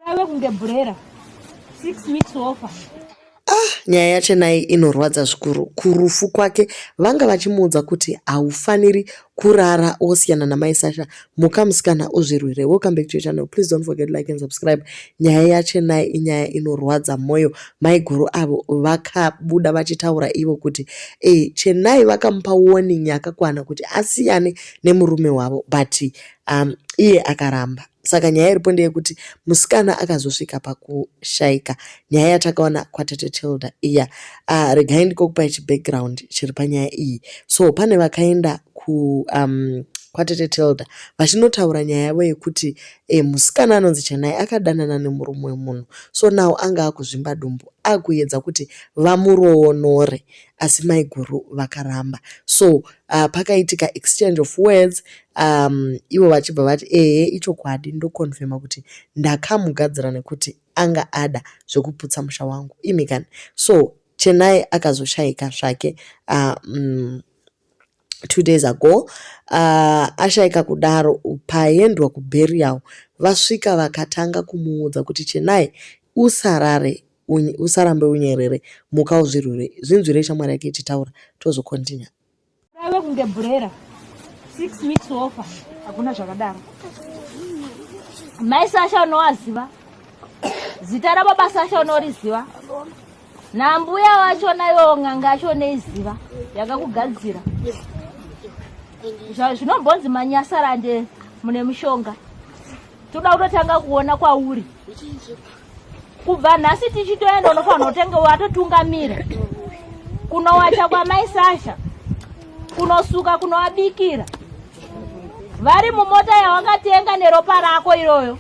Rave kunge bhurera. Six weeks offer. Ah, nyaya yachenai inorwadza zvikuru kurufu kwake vanga vachimuudza kuti haufaniri kurara wosiyana namai sasha muka musikana uzvirwire welcome back to your channel please don't forget like and subscribe nyaya yachenai inyaya inorwadza mwoyo maiguru avo vakabuda vachitaura ivo kuti e, chenai vakamupa warning yakakwana kuti asiyane nemurume wavo but um, iye akaramba Saka nyaya iripo ndeyekuti musikana akazosvika pakushaika nyaya yatakaona kwatete Tilda iya. Uh, regai ndikokupai chibackground chiri panyaya iyi. So pane vakaenda ku um, kwatete Tilda vachinotaura nyaya yavo yekuti e, musikana anonzi Chanai akadanana nemurume wemunhu so now anga akuzvimba dumbu akuyedza kuti vamuroonore asi maiguru vakaramba so uh, pakaitika exchange of words um, ivo vachibva vati ehe ichokwadi ndokonfema kuti ndakamugadzira nekuti anga ada zvekuputsa musha wangu imi kani so chenai akazoshayika zvake uh, um, two days ago uh, ashaika kudaro paendwa kuberial vasvika vakatanga kumuudza kuti chenai usarare Unye, usarambe unyerere muka uzvirwire zvinzwire shamwari yake ichitaura tozokontinua ave kunge bhurera six weeks ofa hakuna zvakadaro mai sasha unowaziva zita rababa sasha unoriziva nambuya wacho nayo ng'anga yacho neiziva yakakugadzira zvinombonzi manyasarande mune mushonga toda kutotanga kuona kwauri kubva nhasi tichitoenda unofanira kutenge watotungamira kunowacha kwamai sasha kunosuka kunowabikira vari mumota yawakatenga neropa rako iroyo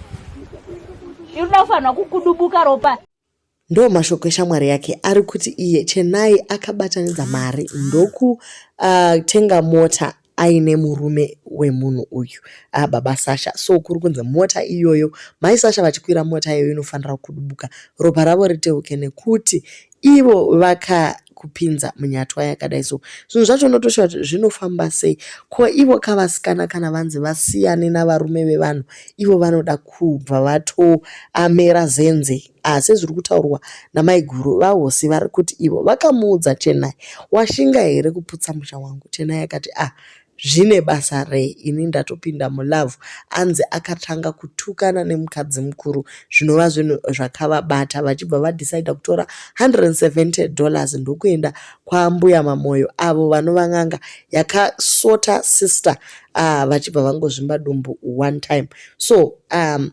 irikuda kufanirwa kukudubuka ropa ndo mashoko eshamwari yake ari kuti iye chenai akabatanidza mari ndokutenga uh, mota aine murume wemunhu uyu a ah, baba sasha so kuri kunzi mota iyoyo mai sasha vachikwira mota iyoyo inofanira kudubuka ropa ravo riteuke nekuti ivo vaka kupinza munyatwa yakadai so zvinhu zvacho unotosha kuti zvinofamba sei ko ivo kavasikana kana vanzi vasiyane navarume vevanhu ivo vanoda kubva vatoamera zenzei asi zviri kutaurwa namaiguru vahosi vari kuti ivo vakamuudza chenai washinga here kuputsa musha wangu chenai akati ah zvine basa rei ini ndatopinda mulavhu anzi akatanga kutukana nemukadzi mukuru zvinova zvinhu zvakavabata vachibva vadhisaida kutora 170 dollars ndokuenda kwambuya mamoyo avo vanova n'anga yakasota sister uh, vachibva vangozvimba dumbu one time so um,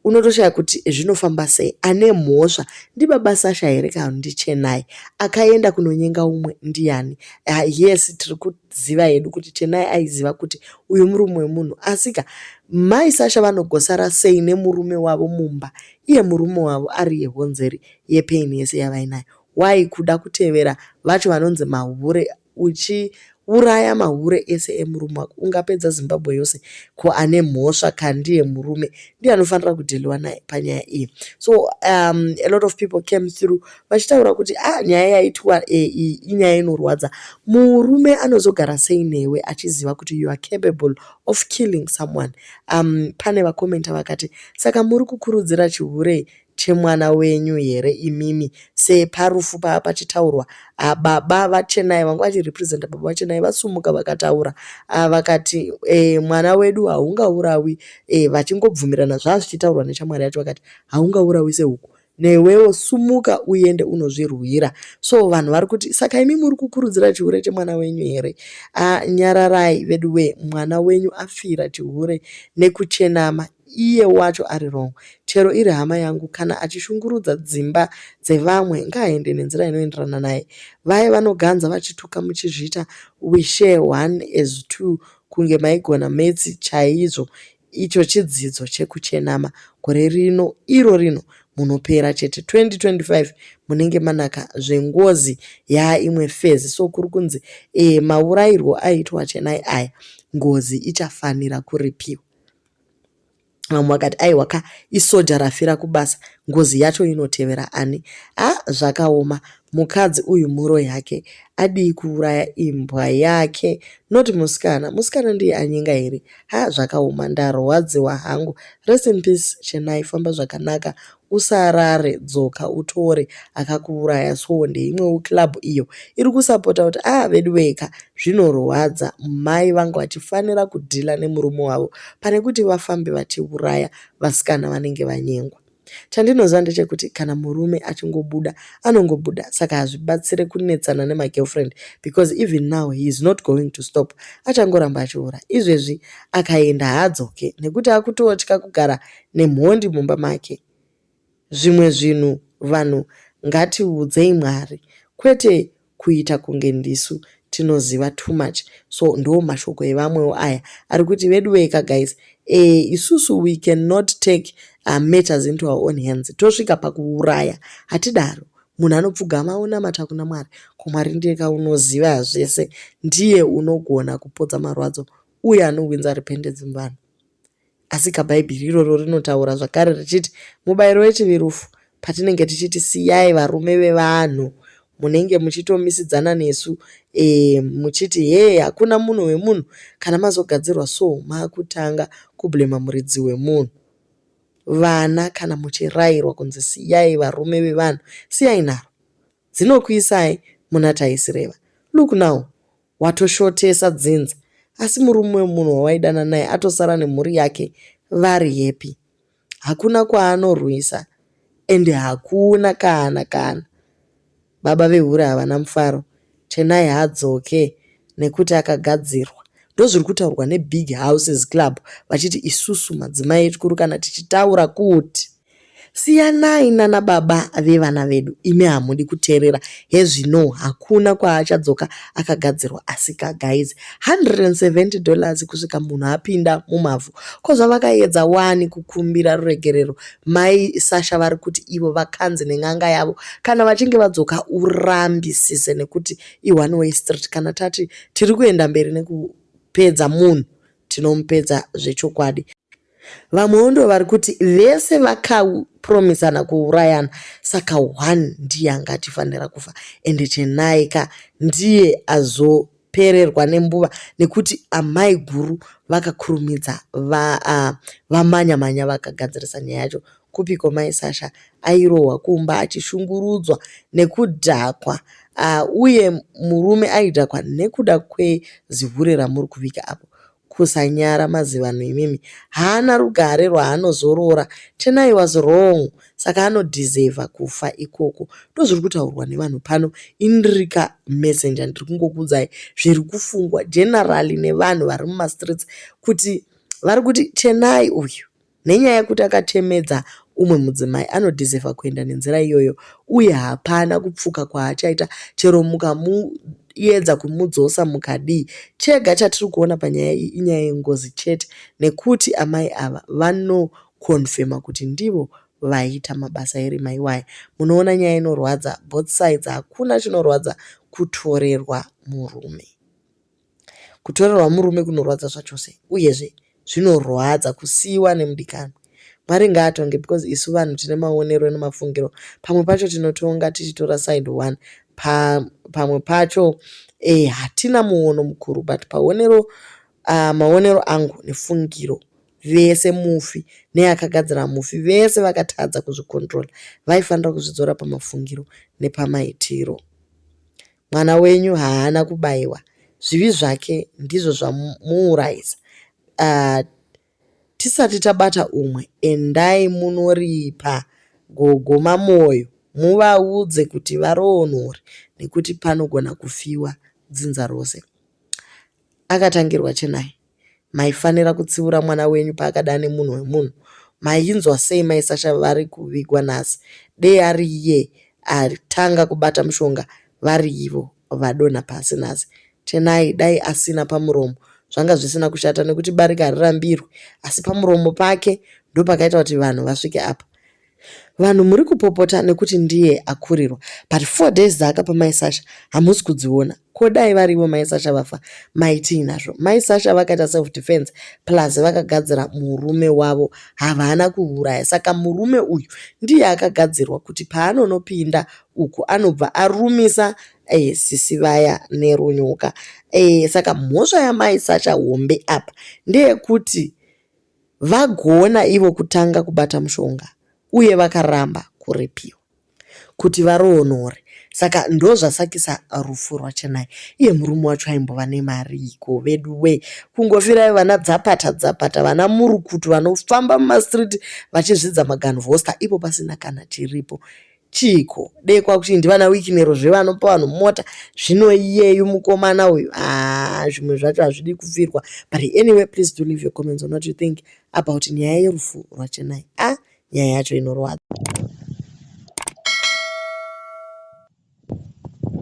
unotoshaya kuti zvinofamba sei ane mhosva ndibaba sasha here kana kuti ndichenai akaenda kunonyenga umwe ndiyani uh, yes tiri kuziva hedu kuti chenai aiziva kuti uyu murume wemunhu asika mai sasha vanogosara sei nemurume wavo mumba iye murume wavo ari yehonzeri yepaini yese yavainayo why kuda kutevera vacho vanonzi mahure uchiuraya mahure ese emurume wako ungapedza zimbabwe yose ko ane mhosva kandiye murume ndiye anofanira kudhiliwa naye panyaya iyi so um, a lot of people came through vachitaura kuti a ah, nyaya yaitwa e, iyi inyaya inorwadza murume anozogara sei newe achiziva kuti you are capable of killing someone um, pane vakomenta vakati saka muri kukurudzira chihurei chemwana wenyu here imimi see parufu pava pachitaurwa ah, baba vachenai vanga vachirepresenta baba vachenai vasumuka vakataura ah, vakati eh, mwana wedu haungaurawi eh, vachingobvumirana zvava zvichitaurwa nechamwari yacho vakati haungaurawi sehuku newewo sumuka uende unozvirwira so vanhu vari kuti saka imi muri kukurudzira chihure chemwana wenyu here ah, nyararai veduwee mwana wenyu afira chihure nekuchenama iye wacho ari wrong chero iri hama yangu kana achishungurudza dzimba dzevamwe ngaaende nenzira inoenderana naye vaye vanoganza vachituka muchizviita we share one as two kunge maigona metsi chaizvo icho chidzidzo chekuchenama gore rino iro rino munopera chete 2025 munenge manaka zvengozi yaa imwe fezi so kuri kunzi e maurairwo aitwa chenai aya ngozi ichafanira kuripiwa vamwe vakati aiwa ka isoja rafira kubasa ngozi yacho inotevera ani a zvakaoma mukadzi uyu mhuro yake adii kuuraya imbwa yake not musikana musikana ndiye anyenga here ha zvakaoma ndarwadziwa hangu rest in peace chenai famba zvakanaka usarare dzoka utore akakuuraya soo ndeimwewo club iyo iri kusapota kuti ah veduwee ka zvinorwadza mai vanga vachifanira kudhila nemurume wavo pane kuti vafambe vachiuraya vasikana vanenge vanyengwa chandinoziva ndechekuti kana murume achingobuda anongobuda saka hazvibatsire kunetsana nemagirlfriend because even now he is not going to stop achangoramba achiura izvezvi akaenda haadzoke nekuti akutotya kugara nemhondi mumba make zvimwe zvinhu vanhu ngatiudzei mwari kwete kuita kunge ndisu tinoziva too much so ndo mashoko evamwewo aya ari kuti veduweka guys e, isusu we cannot take uh, matters into our own hands tosvika pakuuraya hatidaro munhu anopfugama onamata kuna mwari ko mwari ndiyeka unoziva zvese ndiye unogona kupodza marwadzo uye anowinza repentance muvanhu Asika Bhaibheri iroro rinotaura zvakare richiti mubayiro wechivi rufu. Patinenge tichiti siyai varume vevanhu, munenge muchitomisidzana nesu e, muchiti hee hakuna munhu wemunhu. Kana mazogadzirwa so makutanga kublema muridzi wemunhu. Vana kana muchirayirwa kunzi siyai varume vevanhu, siyai nharo dzinokuisai muna taisireva. Look now, Watoshotesa dzinza asi murume wemunhu wawaidana naye atosara nemhuri yake vari happy. Hakuna kwaanorwisa ende hakuna kana kana. Baba vehure havana mufaro. Chenai haadzoke nekuti akagadzirwa. Ndozviri kutaurwa nebig houses club vachiti isusu madzimai echikuru kana tichitaura kuti. Siyanai nana baba vevana vedu imi hamudi kuteerera hezvinoo hakuna kwaachadzoka akagadzirwa asika guys 170 dollars kusvika munhu apinda mumavhu ko zvavakaedza wani kukumbira ruregerero mai Sasha vari kuti ivo vakanzi nen'anga yavo kana vachinge vadzoka urambisise nekuti i one way street kana tati tiri kuenda mberi nekupedza munhu tinomupedza zvechokwadi vamwewo ndo vari kuti vese vakapromisana kuurayana saka one ndiye anga atifanira kufa ende chenai ka ndiye azopererwa nembuva nekuti amai guru vakakurumidza vamanya uh, manya vakagadzirisa nyaya yacho kupiko mai sasha airohwa kumba achishungurudzwa nekudhakwa uh, uye murume aidhakwa nekuda kwezihure ramuri kuvika apo Kusanyara mazivanhu imimi. Haana rugare rwaanozorora. Chenai was wrong saka anodeserver kufa ikoko. Ndozviri kutaurwa nevanhu pano. Inri ka Messenger ndiri kungokuudzai zviri kufungwa generally nevanhu vari mumastreets kuti vari kuti Chenai uyu. Nenyaya yekuti akatemedza umwe mudzimai anodhizevha kuenda nenzira iyoyo uye hapana kupfuka kwaachaita chero mukamuedza kumudzosa mukadii. Chega chatiri kuona panyaya iyi inyaya yengozi chete nekuti amai ava vanokonfema kuti ndivo vaiita mabasa erima iwaya. Munoona nyaya inorwadza both sides hakuna chinorwadza kutorerwa murume. Kutorerwa murume kunorwadza zvachose uyezve zvinorwadza kusiiwa nemudikanwi. Mwari ngaatonge because isu vanhu tine maonero nemafungiro pamwe pacho tinotonga tichitora side one pa, pamwe pacho eh, hatina muono mukuru but paonero uh, maonero angu nefungiro vese mufi neakagadzira mufi vese vakatadza kuzvikontrola vaifanira kuzvidzora pamafungiro nepamaitiro mwana wenyu haana kubaiwa zvivi zvake ndizvo zvamuurayisa uh, ah, tisati tabata umwe endai munoripa gogo mamoyo muvaudze kuti varoonori nekuti panogona kufiwa dzinza rose Akatangirwa Chenai. Maifanira kutsiura mwana wenyu paakada nemunhu wemunhu. Mainzwa sei mai Sasha vari kuvigwa nhasi dei ari iye atanga kubata mushonga vari ivo vadonha pasi nhasi. Chenai dai asina pamuromo zvanga zvisina kushata nekuti barika harirambirwi asi pamuromo pake ndopakaita kuti vanhu vasvike apa. Vanhu muri kupopota nekuti ndiye akurirwa but four days dzaakapa mai Sasha hamusi kudziona. Ko dai varivo mai Sasha vafa maitii nazvo? Mai Sasha vakaita self defense plus vakagadzira murume wavo havana kuuraya. Saka murume uyu ndiye akagadzirwa kuti paanonopinda uku anobva arumisa eh, sisi vaya nerunyuka. Eh, saka mhosva yamai Sasha hombe apa ndeyekuti vagona ivo kutanga kubata mushonga uye vakaramba kurepiwa kuti varoonore saka ndozvasakisa rufu rwachenai iye murume wacho aimbova nemariiko vedu we kungofirayo vana dzapata dzapata vana murukutu vanofamba mumastreet vachizvidza maganvhosta ipo pasina kana chiripo Chiiko dei kwakuti ndivana wikinero zvevanopa vanhu mota zvino iyeyu mukomana uyu aa zvimwe zvacho hazvidi kufirwa but anyway please do leave your comments on what you think about nyaya yerufu rwachenai a ah, nyaya yacho inorwadza